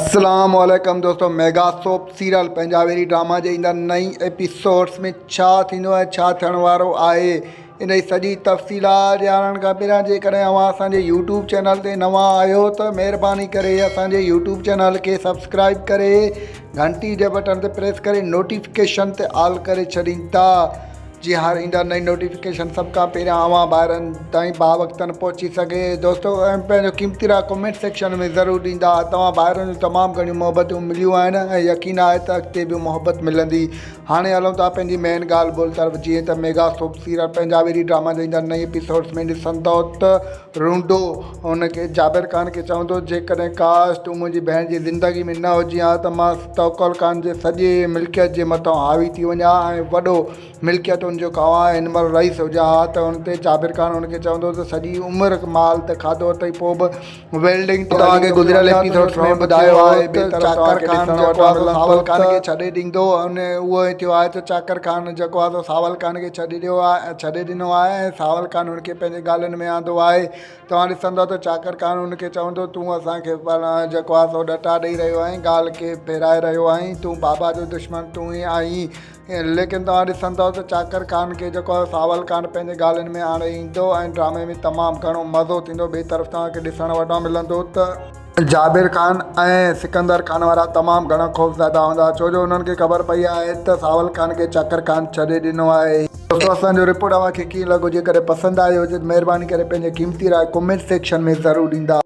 اسلام عليڪم دوستو ميگا سوپ سيريل پنجاوري ڊراما جي ايندڙ نئين ايپيسوڊس ۾ ڇا ٿيندو ۽ ڇا ٿيڻ وارو آهي ان جي سڄي تفصيلات ڄاڻڻ کان پهريان جيڪڏهن اوهان اسان جي يوٽيوب چينل تي نوان آهيو ته مهرباني ڪري اسان جي يوٽيوب چينل کي سبسڪرائب ڪري گهنٽي جي بٽڻ تي پريس ڪري نوٽيفڪيشن تي آل ڪري ڇڏيندا جي هاڻ ايندا نئين نوٽيفڪيشن سڀ کان پهريان اوهان ڀائرن تائين با وقتن پهچي سگهي دوستو ۽ پنهنجو قيمتي راء ڪمينٽ سيڪشن ۾ ضرور ڏيندا توهان ڀائرن جون تمام گهڻيون محبتون مليون آهن ۽ يقين آهي ته اڳتي به محبت ملندي هاڻي هلون ٿا پنهنجي مين ڳالهه ٻولهه طرف جيئن ته ميگا سوپ سيريل پنهنجا ويري ڊراما جي ايندا نئين ايپيسوڊس ۾ ڏسندو ته رونڊو ان کي، جابر خان کي، چوندو هو، جيڪڏهن ڪاش تون منهنجي ڀيڻ جي زندگي ۾ نه هجين ها ته مان توڪل خان جي سڄي ملڪيت جي مٿان حاوي ٿي وڃان ها ۽ وڏو ملڪيتن جو خواهان هن مهل رئيس هجان ها ته ان تي جابر خان ان کي چوندو هو ته سڄي عمر مال ته کاڌو اٿئي پوء به ويلڊنگ تي هلي نٿو وڃان ته نوٽس ۾ ٻڌايو آهي ته چاڪر خان جيڪو آهي سو ساول خان کي ڇڏي ڏيندو ۽ اهو ئي ٿيو آهي ته چاڪر خان جيڪو آهي سو ساول خان کي ڇڏي ڏيو آهي. ڇڏي ڏنو آهي ۽ ساول قانون کي پنهنجي ڳالهين ۾ آندو آهي. توهان ڏسندؤ ته چاڪر قانون کي چوندو، تون اسان کي جيڪو آهي سو ڏٽا ڏيئي رهيو آهين، ڳالهه کي ڦيرائي رهيو آهين، تون بابا جو دشمن تون ئي آهين. ليڪن توهان ڏسندؤ ته چاڪر قانون کي جيڪو آهي ساول قانون پنهنجي ڳالهين ۾ آڻي ايندو ۽ ڊرامي ۾ تمام گهڻو مزو ٿيندو. ٻئي طرف توهان کي ڏسڻ وٽان ملندو ته. جابر خان ۽ سڪندر خان وارا تمام گهڻا خوفزده هوندا ڇو جو انهن کي خبر پئي آهي ته ساول خان کي چاڪر خان ڇڏي ڏنو آهي. دوستو اسان جو رپورٽ اوهان کي ڪيئن لڳو جيڪڏهن پسند آيو هجي ته مهرباني ڪري پنهنجي قيمتي راء ڪمينٽ سيڪشن ۾ ضرور ڏيندا.